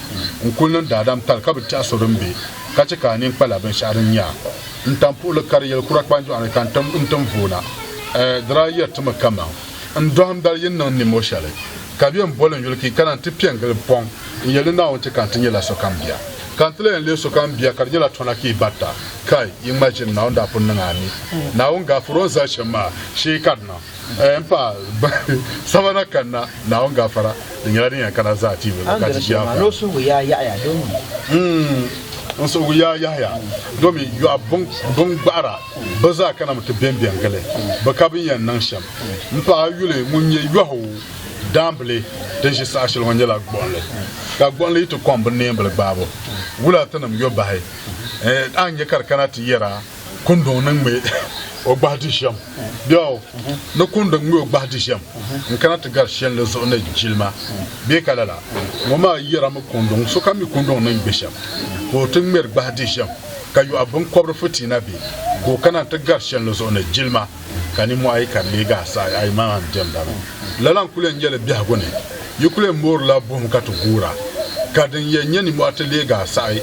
N kul niŋ daadam tali ka bi tɛhi so din be. ka chɛ ka a nini kpala binshɛɣu din nyɛ a ni tam puhili kari yɛli kura kpanjɔɣu ni ka n tim n tim voona. Ɛ di daa yɛri ti mi kaman n dɔhim dali yi ni niŋ nimo shɛli ka bɛn boli n yuli ki ka na nti piɛ n gili pɔŋ n yɛli ni Naawuni chɛ ka n ti nyɛla sokam bia. Ka n ti la yɛn leei sokam bia ka di nyɛla tɔna ka yi barita. Kai! Yi ŋma ʒini, Naawuni daa pun niŋ a ni Naawuni gaafir o ni zali shɛm maa shee ka di niŋ. Eh, n paɣa sabana kanna naawuni gafara di nyɛla din yɛn kana zaa tiibu ka ti ʒiya n suhigu yaa yaɣaya domi n suhigu yaa yaɣaya domi yɔɣa bin gbahira bi zaa kana mi ti bɛnbɛn gili bi ka bin yɛn niŋ shɛm n paɣa yuli ŋun nyɛ yɔhu daambili din ʒi saha shɛli ŋɔ nyɛla gbuɣinli ka gbuɣinli yi ti kɔŋ bi neembili gbaabu wula ti nim yɔbahi eh, a nyɛ ka di kana ti yɛra kunduŋ ni ŋme o gbahi di shɛm. Biɛɣu ni kunduŋ ŋme o gbahi di shɛm n-kana ti gari shɛlli zuɣu ni jilima bee ka lala. Ŋɔ maa yɛrimi kunduŋ, sokam mi kunduŋ ni ŋme shɛm ka o ti ŋmeri gbahi di shɛm, ka yɔɣi biŋkɔbiri fitiina bee ka o kana nti gari shɛlli zuɣu ni jilima, ka ninmɔhi ayi ka di leegi a saha ayi maa n diɛmda mi. Lala n-kul yɛn nyɛli biɛhigu ni, yi kul yɛn moorila buɣim ka ti guura, ka din yɛn nyɛ ninmɔhi ti leegi a saha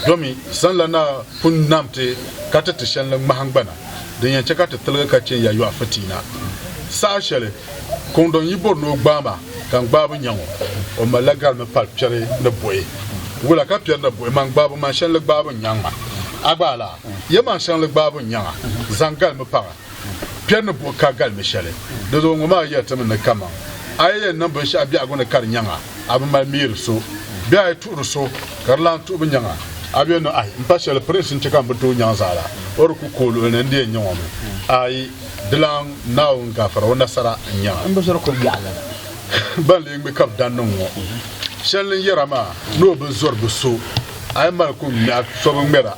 domi sanla Naa. pun nam ti ka ti ti shɛli ni ŋmahingbana din yɛn chɛ ka ti tiligi ka chɛ ya yɔɣu fitiina. Saha shɛli Kɔŋdɔŋ yi bɔri ni o gbaai ma ka n gbaai bi nya ŋɔ, o malila gari ni pali piɛri ni buɣi. Wula ka piɛri ni buɣi man gbaabu man shɛli ni gbaai binyaŋ maa? A gbaai laa? Yɛlmaŋ shɛŋa ni gbaai binyaŋa zaŋ gali mi paŋa. Kpɛri ni buɣi ka galimi shɛli, di zuɣu ŋɔ maa yɛli ti mi ni kaman a yi yɛn niŋ binshɛɣu biɛhigu ni ka di nyaŋa, a bi mali miiri so. Bee a yi tuhiri so ka di lan tuhi bi nyaŋa, a bi yɛn niŋ ahi, m-pa shɛli pirinsi n-chɛ ka m bi tooi nyaŋ zaala, o di ku ka o luɣili ni n-di yɛn nya ŋɔ mi. Aai! Dilan Naawuni gafara, o nasara n-nya a. Ban lee ŋme ka bi dan niŋ ŋɔ shɛli ni yɛra maa ni o bi zɔri bi so, a yi mali kuŋ ŋmɛha so bi ŋmɛr a.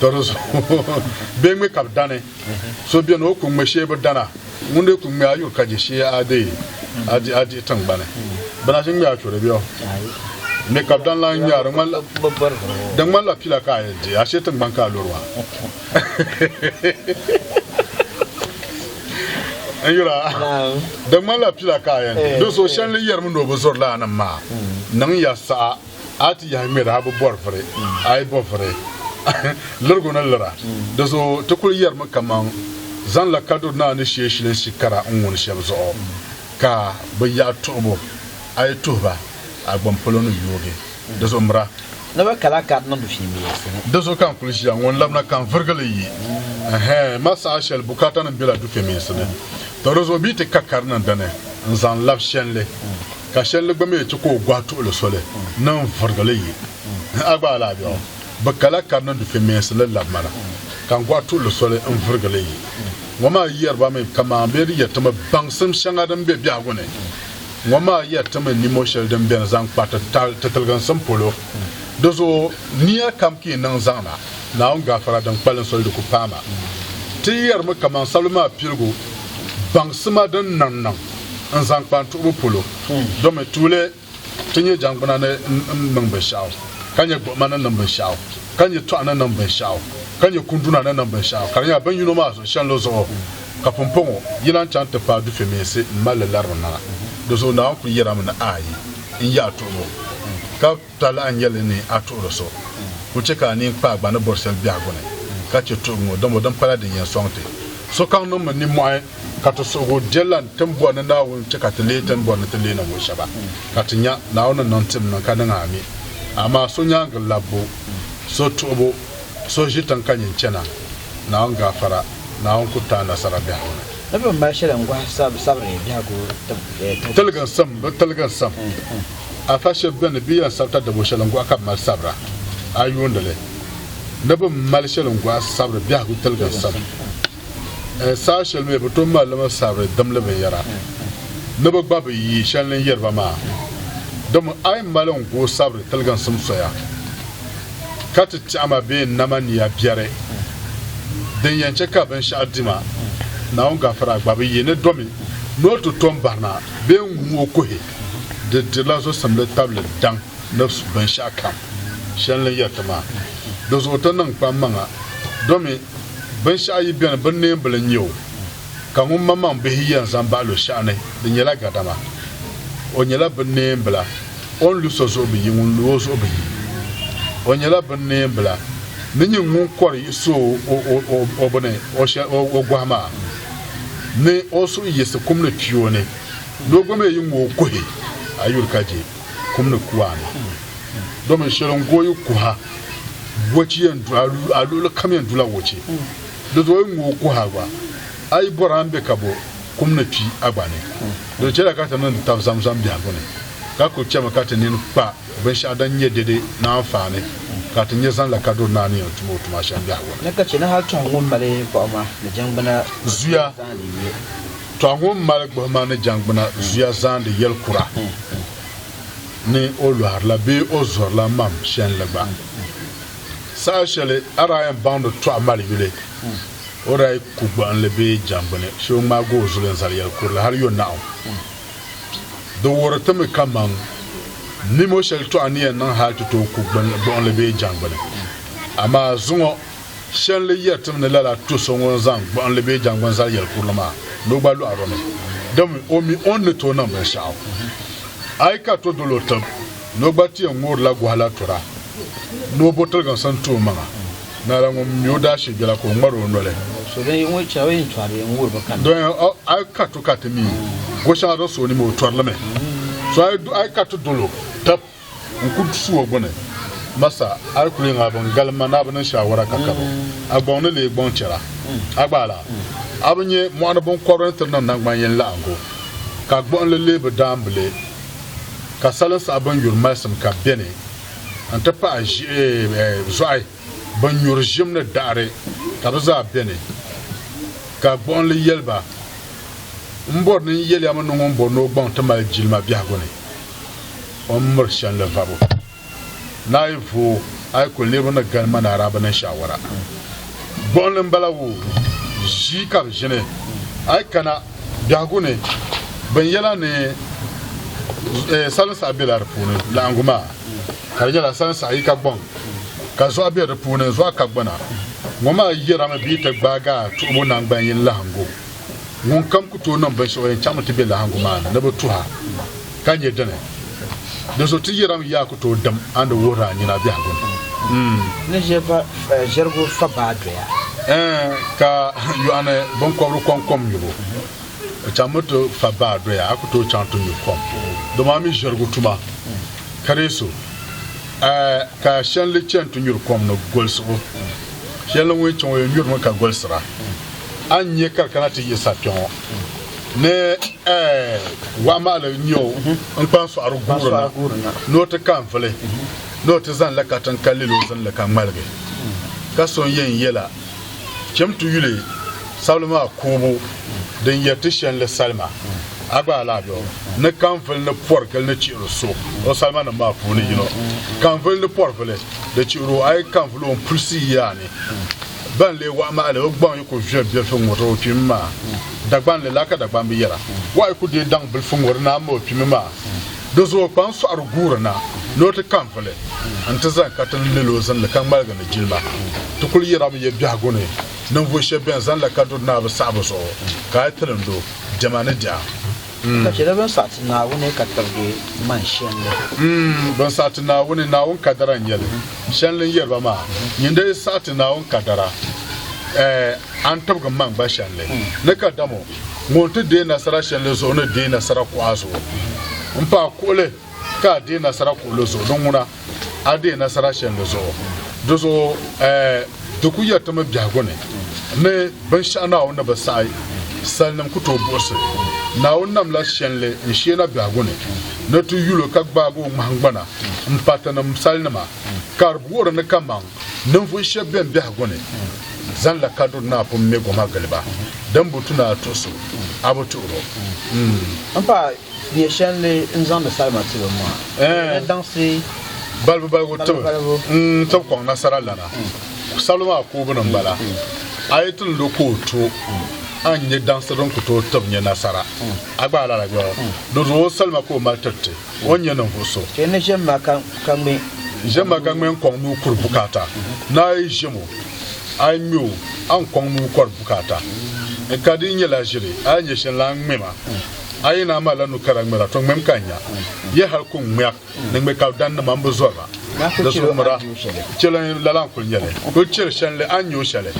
Tɔri zuɣu bee ŋme ka bɛ dani so beni o ku ŋme shee bi dana ŋun dii ku ŋme a yuri ka je shee a dee a dihi tiŋgbani bɛ na ʒi ŋme a churi bɛ o ŋme ka bɛ dan lan ŋme a di ŋmanila pila ka a yɛn di ashe tiŋgbani ka a luri maa n yura di ŋmanila pila ka a yɛn di di so shɛli ni yɛrimi ni o bi zuri laanim maa niŋ ya saha A ti yahi ŋmɛri a bi bɔri vuri, a yi bo vuri, lirigu ni lira. Di zuɣu ti kul yɛrimi kaman zaŋla kaduri naa ni shee shilinsi kara n-ŋuni shɛm zuɣu, ka bɛ yaɣi tuhibu, a yi tuhi ba, a gbam polo ni yoogi. Di zuɣu mira. Ni bɛ kala ka di niŋdi fiimeensi ni. Di zuɣu ka n kul ʒiya ŋɔ n-labina ka n virigi li yi. Ɛhɛ! M ma saha shɛli bukaatanim bela dufemeensi ni, tɔ di zuɣu bɛ yi ti ka ka di niŋ dini n-zaŋ labi shɛnli. ka shɛlli gba mi ti ka o gɔhi tuɣili soli ni n vurigi li yi. A gba alaabɛɣu bi kala ka di ni dufe meensi li labi ma na, ka n gɔhi tuɣili soli n vurigi li yi. Ŋɔ maa yɛri ba mi kaman bɛ ni yɛri ti mi baŋsim shɛŋa din be biɛhigu ni, ŋɔ maa yɛri ti mi nimo shɛli din beni zaŋ kpa ti ti tiliginsim polo. Di zuɣu nia kam ka yi niŋ zaŋ na, Naawuni gaafara din kpalim soli di ku paai ma. Ti yɛri mi kaman sabili maa piligu baŋsima din niŋ niŋ. n zaŋ kpa n tuhibu polo, domi tuuli ti nyɛ jangbuna ni niŋ binshɛɣu, ka nyɛ gbuɣima ni niŋ binshɛɣu, ka nyɛ tɔɣu ni niŋ binshɛɣu, ka nyɛ kunduna ni niŋ binshɛɣu, ka di nyɛla bin yino maa zuɣu shɛnlo zuɣu ka pumpɔŋɔ yi lan chaŋ ti paai dufɛmeensi m-mali li lari di maŋa. Di zuɣu Naawuni kul yɛrila mi ni, Aai! N yi a tuhibu, ka. Tɔ lahi nyɛ li ni a tuɣiri so, kul chɛ ka a nini kpaai gbani bɔri shɛli biɛhigu ni, ka chɛ tuhi ŋ-ŋɔ, dama din pala din yɛn sɔŋ ti. Sokam niŋmi nimmɔhi ka ti suhigu je lan ti ni bɔri ni Naawuni chɛ ka ti leei ti ni bɔri ni ti leei ninvuɣ shɛba, ka ti nya, Naawuni ni niŋ tim niŋ ka niŋ ami. Amaa so nyaaŋa labbu, so tuhibu, so ʒi tiŋ ka nyin chana, Naawuni gaafara, Naawuni ku ti a nasara biɛhigu ni. Ni bɛ ni mali shɛli n-gɔhi sabiri biɛhigu tibu. Tiliginsim, bɛ tiliginsim. Afa shɛb beni bɛ yɛn sabita dabo shɛli n-gɔhi ka bɛ mali sabira, a yuundi li ni bɛ ni mali shɛli n-gɔhi sabiri biɛhigu tiliginsim. N saha shɛli mi bɛ tooi mali li mi sabiri dimli binyɛra ni bɛ gba bi yi shɛli ni n-yeri ba maa. Dama a yi mali n gɔhi sabiri tiliginsim soya ka ti tɛɣi ma bee n-nama nia biɛri, din yɛn chɛ ka binshɛɣu di ma, Naawuni Gafara gba bi yi ni domi ni o ti tom bahina bee n-ŋum o kuhi. Di dirila zusimli tabili daŋ ni su binshɛɣu kam shɛli ni yɛri ti maa. Di zuɣu ti niŋ kpa maŋa domi binshɛɣu yi beni bin neembili n-nyɛ o, ka ŋun maŋmaŋ bihi yɛn zaŋ bahi lu shɛɣu ni di nyɛla gadama. O nyɛla bin neembila, o ni lu so zuɣu bi yi, ŋun lu o zuɣu bi yi. O nyɛla bin neembila ni nyin ŋun kɔri yi su o bini o gɔhi maa, ni o suhu yiɣisi kum ni kpi o ni. Doo gba mi yi ŋ o kuhi, a yuli ka je kum ni kuwa ni. Domin sheli n go yi kuha, wochi yen du, a luɣili kam yen dula wochi. Di zuɣu yi ŋ o kuha gba, a yi bɔri a ni be ka bo kum ni kpi a gba ni. Di chela ka ti niŋdi tab Zamzam biɛhigu ni, ka kul chemi ka ti nini kpa binshɛɣu din nye dede ni anfaani ka ti nye zaŋ la kaduri Naa ni yen tum o tuma shem biɛhigu ni. Ni ka che ni hal tuhi ŋun mali gbuɣima ni jangbuna zuya. Tɔha ŋun mali gbuhima ni jangbuna zuya zaandi yɛl kura ni o lɔhirila bee o zurila mam shɛnli gba. Saha shɛli a daa yɛn baŋdi tɔha mali yuli, o daa yi ku gbuɣinli bee jangbuni shee o ŋmaagi o zuli n-zali yɛl kurili hal yo naɣu. Di wuhiri ti mi kaman nimo shɛli tɔha ni yɛn niŋ hal ti tooi ku gbuɣinli bee jangbuni, amaa zuŋɔ Shɛnli yiya tim ni lala tu so ŋun zaŋ gbuɣinli bee jaŋgbuni zali yɛli kurili maa ni o gba lɔɣiri o ni. Dami, o mi o ni ni tooi niŋ binshɛɣu. A yi ka to dol o tib ni o gba ti yɛn ŋoorila gɔhi la tura ni o bo tiliginsi n-ti o maŋa. Naala ŋun mi o daashee bela ka o ŋmari o noli. Dɔya, a yi ka to ka ti mi o shɛŋa din so o ni mi o tɔri li mi. So a yi ka ti dol o tib n ku su o gbuni, Masa, a yi ku leei a bi ni galim ma ni a bi niŋ shaawara ka kabo, a gɔŋ ni leei gɔŋ chɛra. A gba lala, a bi nya mɔɣuni biŋkɔbiri ni tiri niŋ naŋgban yini laɣingu, ka gbuɣinli leei bi daambili, ka salin saɣa bin yuri malisim ka bɛ ni, n-ti pahi ʒiɛhi, zɔɣi. Bɛ nyuri ʒim ni daɣiri ka bɛ zaa beni. Ka gbuɣinli yɛli ba, M bɔri ni n yɛli a mi ni ŋun bɔri ni o gbaŋ ti mali jilima biɛhigu ni o ni miri shɛli ni vabu. Naa yi vooi a yi kuli leebu ni gali ma ni araaba niŋ shaawara. Gbuɣinli m-bala woo, ʒii ka bɛ ʒini. A yi kana biɛhigu ni, binyɛla ni salinsaɣi bela di puuni laɣingu maa. ka di nyɛla sansaɣ yi ka gbɔŋ, ka zuɣa be di puuni, zuɣa ka gbana. Ŋɔ maa yɛrimi bee ti gbaagi a tuhibu naŋgban yini lahiŋgu? Ŋunkam ku tooi niŋ binshɛɣu o yɛn chaŋmi ti be lahiŋgu maa ni ni bɛ tuh a, ka nyɛ dini? Dinzuɣu ti yɛrimi yaa ku tooi dim a ni wuhir a nyina biɛhigu ni. Ni ʒiɛrigu fa baa doya. Ɛɛn, ka yɔɣuni biŋkɔbiri kɔŋ kom nyubu. O chaŋmi ti fa baa doya, a ku tooi chaŋ ti nyu kom. Dama a mi ʒirigu tuma ka dii so. A ka shɛnli chani ti nyuri kom ni golisi o. Shɛnli ŋun chaŋ o yɛn nyurimi ka goliser a. A ni nya ka di kana ti yiɣis a kpiɔŋɔ ni wahu mahili n-nya o n kpa n-sɔɣiri guuri na ni o ti ka n-vili ni o ti zani la katiŋ ka lil o zinli ka ŋmaligi. Ka so n-yɛn yɛl a. Cham ti yuli sabili maa kuubu din yɛri ti shɛnli salima. A gba alaha bɛ ni kaŋvili ni pɔri gili ni chihiri so o salimanim maa puuni yino. Kaŋvili ni pɔri vili di chihiri o, a yi kaŋvili o m-pulisi yi a ni. Bɛn lee waɣi ma li, o gbaŋ yi ku viɛm biɛlifu ŋ-ŋɔri o kpimi maa. Dagbaŋ li la ka Dagbaŋ bi yɛra, waɣi yi ku deei daŋ bilifu ŋ-ŋɔri naa m-ma o kpimi maa. Di zuɣu kpaŋ sɔɣiri guuri na ni o ti ka n-vuli nti zani ka ti ni lel o zinli ka ŋmaligi ni jilima. Ti kul yirami ya biɛhigu ni ninvuɣ shɛb bɛn zanila ka duri Naawuni saɣibu zuɣu ka a yi ti lindi o, diɛma ni diɛm. Ka chɛla bɛn saɣi ti Naawuni ka tirigi man shɛlli. M, bɛn saɣi ti Naawuni, Naawuni kadara n-nyɛ li. Shɛl ni n yɛri ba maa, nyin di yi saɣi ti Naawuni kadara, ɛɛ, a ni tibigi man gba shɛlli. Ni kadama o, ŋun ti deei nasara shɛli zuɣu ni deei nasara kuɣa zuɣu n pa kuɣuli ka a deei nasara kuɣuli zuɣu ni ŋuna a deei nasara shɛli zuɣu di zuɣu eh, di ku yɛritimi biɛhigu ni ni binshɛɣu naawuni ni bi saɣi salinim ku tooi buɣisi naawuni namla shɛli n sheena biɛhigu ni ni ti yulo ka gbaagi o ŋmahingbana m pa tinim salinima ka di wuhiri ni kaman ninvuɣ shɛb bɛn biɛhigu ni zaŋla kaduri ni apum me goma gili ba, din bi tu ni a tuhi so, a bi tuhir o. M pa nyɛ shɛl ni n zaŋdi salima ti bɛ maa, bɛ ni daŋsi balibu balibu ti bɛ, n tib kɔŋ nasara lana, sabili maa koobu ni m-bala, a yi ti ni lo ka o to, a ni nyɛ daŋsi din ku tooi tib nyɛ nasara. A gba a lala bɛ? Di zuɣu o salima ka o mali tiriti. O nyɛ ninvuɣ so. Ti ni ʒe ma ka ŋme. Ʒe ma ka ŋme n-kɔŋ ni o kuri bukaata. Ni a yi ʒem o, a yi ŋme o, a ni kɔŋ ni o kɔri bukaata. N ka di yi nyɛla ʒili, a yi nya shɛli la, a ŋme ma. A yi na malila nu kara ŋmɛra, to ŋmem ka n nya. Yi hal ku ŋmɛr ni ŋme kalidaninima, m bi zɔri ba. Di suŋ mi daa chel n lala n-kul nya li. Kul chel shɛnli a ni nya o shɛli.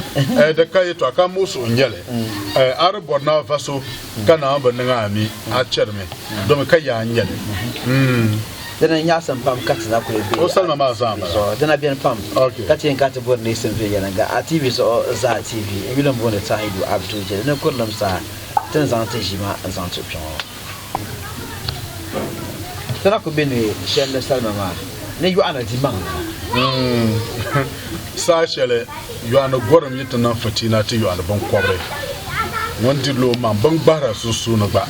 Di ka yɛtɔɣa ka m muɣis o n-nya li. A di bɔri ni a va so. ka Naawuni bi niŋ a mi, a chɛrimi, domi ka yaa n-nyɛ li. Dina nyaɣisim pam ka ti na kuli be a TV zuɣu. Dina beni pam ka ti yɛn kana ti bɔri ni yi sim viɛnyɛliŋga a TV zuɣu zaa. TV n yuli m booni Tahidu Abdu je ni kurilim saha ti ni zaŋ ti ʒiima n zaŋ ti o kpe ŋɔ. Ti na kuli be ni shɛli ni salima maa ni yɔɣina dimaŋ nima. Saha shɛli Yɔɣuni gɔrim yi ti niŋ fitina ti yɔɣuni biŋkɔbiri, ŋun dirila o maŋ bini gbahira sunsuuni gba,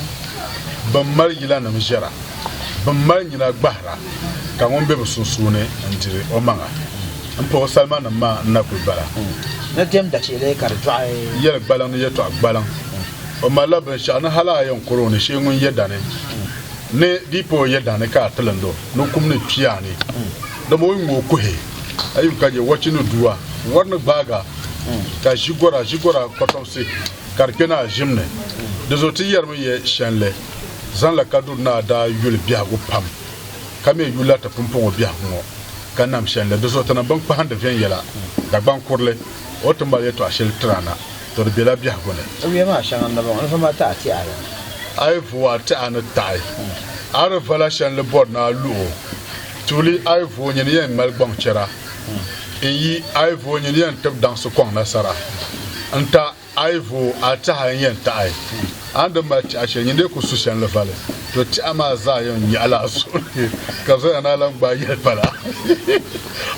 bɛn mali yilanim ʒiɛra, bɛn mali nyina gbahira, ka ŋun be bɛ sunsuuni n-diri o maŋa m-pa o salimanim maa n-na kul bala. Ni diɛm dachihili ka di dɔɣi. Yɛli gbaliŋ ni yɛtɔɣ gbaliŋ. O malila binshɛɣu ni hal a yɛn kɔr o ni shee ŋun yɛ dani ni di yi pa o yɛ dani ka a tilind o ni o kum ni kpi a ni, dama o yi ŋme o kuhi. a yi ka je wɔchi ni dua, wɔri ni gbaaga, ka ʒi gora, ʒi gora kɔtɔbisi ka di kpe ni a ʒim ni. Di zuɣu ti yɛrimi yɛ shɛnli, zaŋla ka duri ni a daa yuli biɛhigu pam, ka mi yulila ti pumpɔŋɔ biɛhigu ŋɔ, ka nam shɛnli. Di zuɣu ti niŋ binkpahindi viɛnyɛla, Dagbaŋ kurili, o ti mali yɛtɔɣ shɛli tiri a na, tɔ di bela biɛhigu ni. O yuya maa shɛŋa n-ŋ-ŋ, a ni va ma ti a tɛha ni. A yi va o a tɛha ni taɣi, a di vala shɛnli bɔri ni a lu o. Tuuli ai vo nyini yɛn ŋmali gbaŋ chɛra, n yi ai vo nyini yɛn tib daŋsi kɔŋ nasara, n ta ai vo a tɛha n yɛn taɣi a ni di mali tɛha shɛli nyini dee ku su shɛnli vali, to tɛha maa zaa yɛn nyaɣi la a zuɣu ni ka bɛ zaŋya ni a lan gbaai yɛli pala.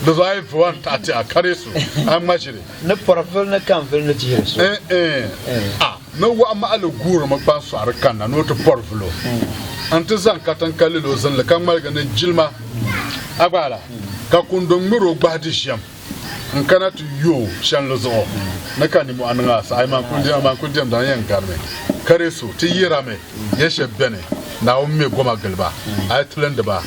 Di zuɣu ai vo a ni taɣi tɛha kari su, a ŋmajiri. Ni pɔrivili ni kanvili ni dihiri so. N-n-n! Ni waɣa maɣili guurimi kpaŋsɔɣiri kanna ni o ti pɔri vul o nti zaŋ katiŋ ka lil o zinli ka ŋmaligi ni jilima agbaala, ka kundo ŋmir o gbahi di ʒiɛm n-kana ti yo o chanli zuɣu ni ka nimɔhi niŋ a saha. Ayi maa n-kul diɛmda, n-yɛn garimi ka di so ti yirami. Ya shɛb bɛni Naawuni me goma gili ba, a yi tilindi ba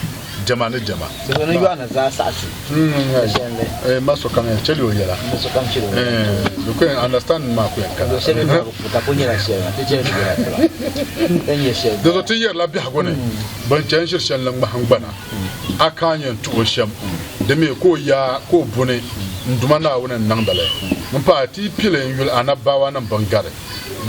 diɛma ni diɛma. Salo ni yɔɣina zaa saɣi ti ka shɛli ni. N ma sokam yɛn chɛli o yɛla. N sokam chɛli o yɛla. Di ku yɛn understanding maa ku yɛn kana. Luɣ shɛli bɛn bi ku ka ku nyɛla shɛli maa, ti chɛ ni ti yɛla ti ba ka nyɛ shɛli. Dinzuɣu ti yɛrila biɛhigu ni bɛn chɛ n-ʒiri shɛli ni ŋmahingbana, a ka n yɛn tuhi o shɛm, di mi ka o yaa ka o buni n Duuma Naawuni n-niŋdi li. M paai, ti yi pili n-yuli a nabibaawaanim biŋ gari.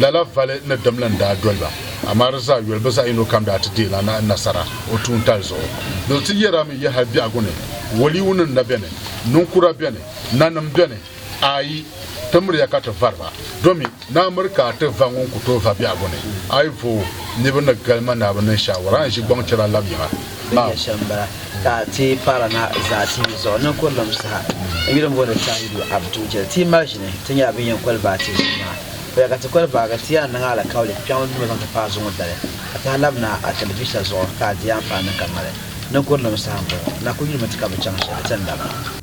Lala vali ni dimli n-daa doli ba, amaa di zaa yoli bɛ zaɣ yino kam daa ti deei la Naawuni nasara o tuuntali zuɣu. Doli ti yɛri a mi yi hal biɛhigu ni, Waliunima na beni? Niŋkura beni? Nanim beni? Aai! Ti miriya ka ti vari ba, domi naa miri ka a ti va ŋun ku tooi va biɛhigu ni. Aivoo! Niriba ni gali ma naa bi niŋ shaawara n-ʒi gbaŋ chɛra lab yiŋa. Bɛnya shɛm m-bala ka a ti paara na zaati yi zuɣu niŋkurinima saha. N yuli m-booni Tahiru Abdu Jeli. Ti yi mali ʒini, ti nyɛla bɛn yɛn koli baai ti ʒini maa. O ya ka ti koli baai ka ti yaa niŋ alikauli kpiɔŋ duuma zaŋ ti paai zuŋɔ dali ka tahi labi na a tɛlivisa zuɣu ka a di a amfani ni ka mali niŋkurinima saha m-bɔŋɔ. Na kul yulimi ti ka bi chaŋ shɛli, ti ni labi.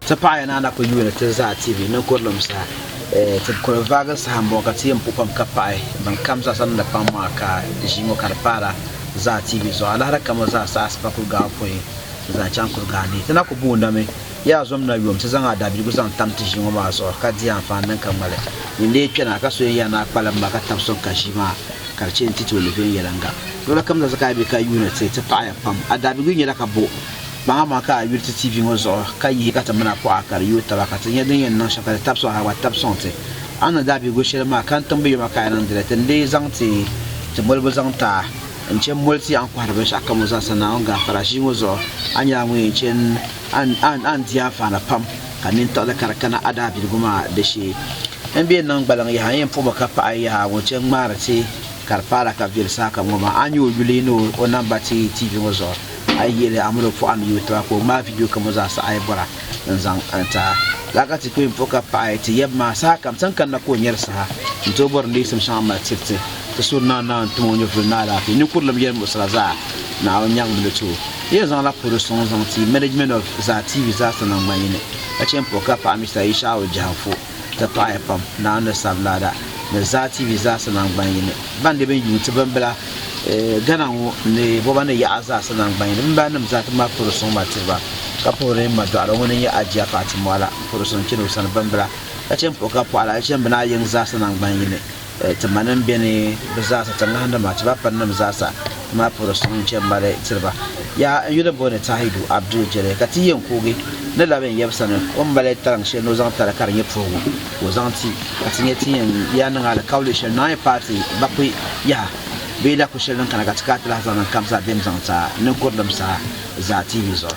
Ti paɣiya ni a na ku yuuni ti zaa TV ninkurilim sa, ti kul vaagi saha m-bɔŋɔ ka ti yɛn pu pam ka paɣi bɛn kam zaa sa ni di paŋ maa ka ʒii ŋɔ ka di paara zaa TV zuɣu. Alahira ka mo zaa sa a sipa kul gaai pɔi n-zaŋ chaŋ Kurigaa ni. Ti na ku booni mi ya a zom na yom ti zaŋ a daabiligu zaŋ tam ti ʒii ŋɔ maa zuɣu ka di anfaani din ka ŋmali ni leei kpɛna ka soya ya ni a kpalim ma ka tab sɔŋ ka ʒii maa ka di chɛ ni ti tooi leei viɛnyɛliŋga. Luɣili kam zaa sa ka a be ka yuuni ti, ti paɣiya pam. A daabiligu nyɛla ka bo. Baŋ amaa ka a yuli ti TV ŋɔ zuɣu ka yihi ka ti mini a kuɣa ka di yooi taba ka ti nya din yɛn niŋ shɛm ka di tab sɔŋ a gba tab sɔŋ ti. A ni daa bihigu shɛli maa ka n tiŋbi yoma ka a niŋdi li ti ni lee zaŋ ti ti molibu zaŋ ti a n chɛ m-moli ti a n kɔhiri binshɛɣu kam ŋɔ zaasa Naawuni gaafara ʒii ŋɔ zuɣu. A nyɛla ŋun yɛn chɛ n a ni di anfaani pam ka nintiɣili ka di kana a daa bihigu maa di shee. N be niŋ gbaliŋ yaha n yɛn puɣimi ka paɣi yaha ŋɔ chɛ n-ŋmaari ti ka di paai la ka viɛli saha kam ŋɔ maa a nyɛ o yuli ni o namba ti TV ŋɔ zuɣu. A yi yeli Amadu pɔɣa ni yuui tiba ka o ŋmaai vidio kam o zaa saha a yi bɔra n-zaŋ a ni ti a. Lala ka ti kpee m-puhi ka paɣi ti yab maa sahakam sani kanna ka o nyari saha n-ti o bɔri ni yiɣisim shɛŋa mali tiriti ti suhu ni naanaa n-tim o nyɛvuli ni alaafee ninkurilim yɛlimuɣisira zaa ni a nyaŋ mini ti o. Ti yɛn zaŋla polo sɔŋ n-zaŋ ti Management of Zaa TV zaasa niŋ ma yini ka chɛ m-puhi ka paɣi Mister Ishau Jahanfo. ti paɣiya pam, Naawuni ni Sablaada ni Zaa TV zaasa naŋgban yini. Ban di bini yuun ti bimbila Ghana ŋɔ ni boba ni yaɣa zaasa naŋgban yini bimbala nim zaa ti mali puri suŋ ma tiri ba, ka puhiri n ma dɔɣira ŋun n nyɛ Ajiya Fatimɔɣu la n puhiri suŋ chani o sani bimbila, ka chani puhi ka pɔɣila, ka chani bini a yiŋ zaasa naŋgban yini. Ti ma nim bɛ ni bi zaasa ti ŋahin di ma ti ba pari nim zaasa ti ma puhiri suŋ n chɛn mali tiri ba yaa n yuli booni Tahidu Abdul Jɛlɛ ka ti yɛn kuugi ni labi n yɛbu sani o ni mali tariŋ shɛli ni o zaŋ tari ka di nyɛ puhigu ka o zaŋ ti ka ti nyɛ ti yɛn yaa niŋ alikauli shɛli naai paati bakui yaha bee laku shɛli din kana ka ti kaati lahi zaŋ niŋ kamsa bɛn zaŋ ti a ninkurilim saha zaa TV zuɣu.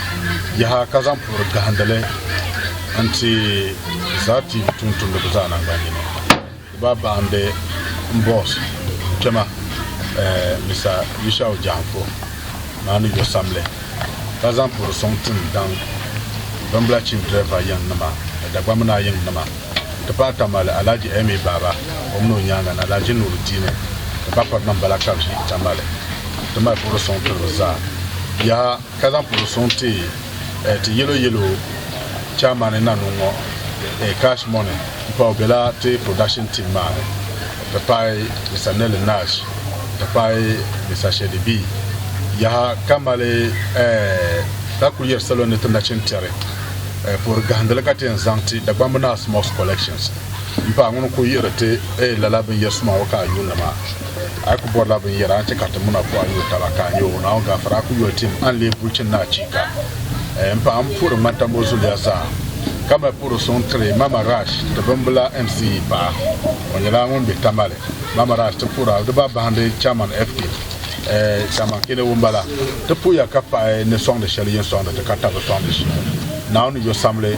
Yaha ka zaŋ puhiri gahindili n-ti Zaa TV tumtumdiba zaa naŋgbannyini. Di baa bahi m-be m boss kpɛma Mister Yushau Janfo maa ni yo samli ka zaŋ puhiri sɔŋ tim daŋ bimbila chief driver yiŋ nima ni Dagbamb naa yiŋ nima n-ti pahi Tamale Alhaji Emmy Baba o min o nyaaŋa ni Alhaji Nuruddini ni Bakɔrinim bala ka bɛ ʒi Tamale n-ti mali puhiri sɔŋ tiri bɛ zaa. Yaha! ka zaŋ puhiri suŋ ti ti yɛlo yɛlo chaamani Nanuu ŋɔ Cash Money m-pa o bela ti production team maa ni nti pahi Mister Nelly Nash nti pahi Mister Shady B yaha ka mali ka kuli yɛri salo ni ti nachin tɛri puhiri gahindili ka ti yɛn zaŋ ti Dagbamb Naa Smoke's Collections m-pa ŋuni n-kuli yihiri ti lala binyɛri suma ŋɔ ka a yuuni maa. A ku bɔrila binyɛra nti kariti muna ku a yo taba ka a nya o, Naawuni gaafara a ku yoli tim, a ni lee guli chini ni achiika! M paɣa, m puhiri ŋmanta ŋɔ zuliya zaa, ka mali puhiri suŋ tiri Mama Rash ti bimbila MCE paɣa. O nyɛla ŋun be Tamale. Mama Rash ti puhiri Aligiba bahindi Chairman FK, Chairman Kene ŋun bala. Ti puhiya ka paɣi ni sɔŋdi shɛli yɛn sɔŋdi ti ka tabi sɔŋdi ʒii. Naawuni yo samli.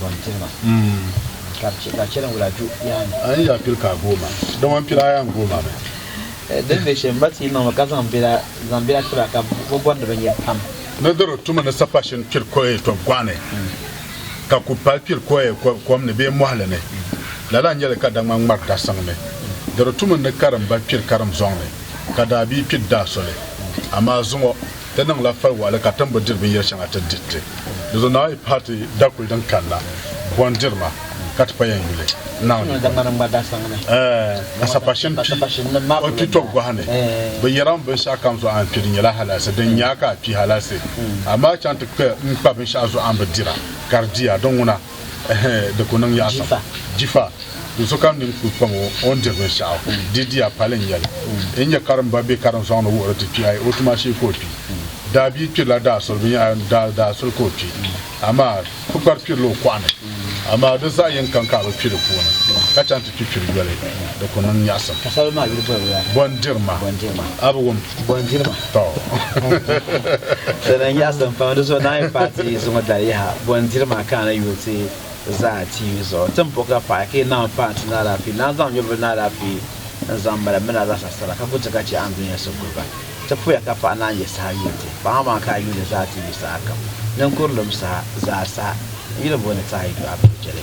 bɔn tilima ka bi chɛ ka chɛli wula ju yaha ni. N ya pili ka a gooma, dama n pila a yan goom a mi. Di ni be shɛm, ba ti niŋ ba ka zaŋ bela zaŋ bela ti ba ka bɛ bɔrindi binyɛr pam. Ni di di tuma ni sapashin kpiri kɔɛ tɔb gɔɣ ni, ka ku pali kpiri kɔɛ kom ni bee mɔhili ni, lala n-nyɛ li ka daŋmani ŋmari dasiŋ ni. Di di tuma ni karimba kpiri karim zɔŋ ni, ka daabia kpiri daa soli. Amaa zuŋɔ. Ti niŋla fal waɣili ka tim bi diri binyɛri shɛŋa ti di ti. Di zuɣu Naa yi pahi ti dakuli din kanna buɣim diri ma ka ti pa yɛn yuli Naa ni buɣim. Ka sapashin kpi o kpi tɔbu gɔha ni. Bi yɛra mi binshɛɣu kam zuɣu a ni kpi di nyɛla halaasi, din nya a ka a kpi halaasi. Amaa chaŋ ti kpi m kpa binshɛɣu zuɣu a ni bi dira ka di di a. Di ŋuna. Jifa, do so kam nini kul kpam o o ni diri binshɛɣu di diya pali n-nyɛli. N nya karimba bɛ karinsɔŋ ni wuhiri ti kpi a yi o tuma shee ka o kpi. Daabia kpirila daasuli binyɛra daasuli ka o kpi amaa kpukpari kpirila o kɔɣu ni. Amaa di zaɣ yini kam ka a bi kpi di puuni ka chaŋ ti kpi kpiri yoli di ku niŋ nyaɣisim. Bɔn diri ma a bi wum. Bondiriba Dana n yaɣisi n pam di zuɣu daa yi paai ti zuŋɔ dali yaha bondiri maa ka a na yuui ti zaa ti yuui zuɣu ti ni po ka paai ka yi naawuni paai ti ni alaafee naan zaŋ nyɔvili ni alaafee n zaŋ mali mini a zaasa sara ka ku ti ka chɛ a ni dunia so guri ba ti poya ka paɣa naan yɛ saha yuui ti paɣa maa ka a yuui li zaa ti yuui saha kam ninkurilim saha zaa saha n yi di boli ni ti a yi du a bɛ chɛli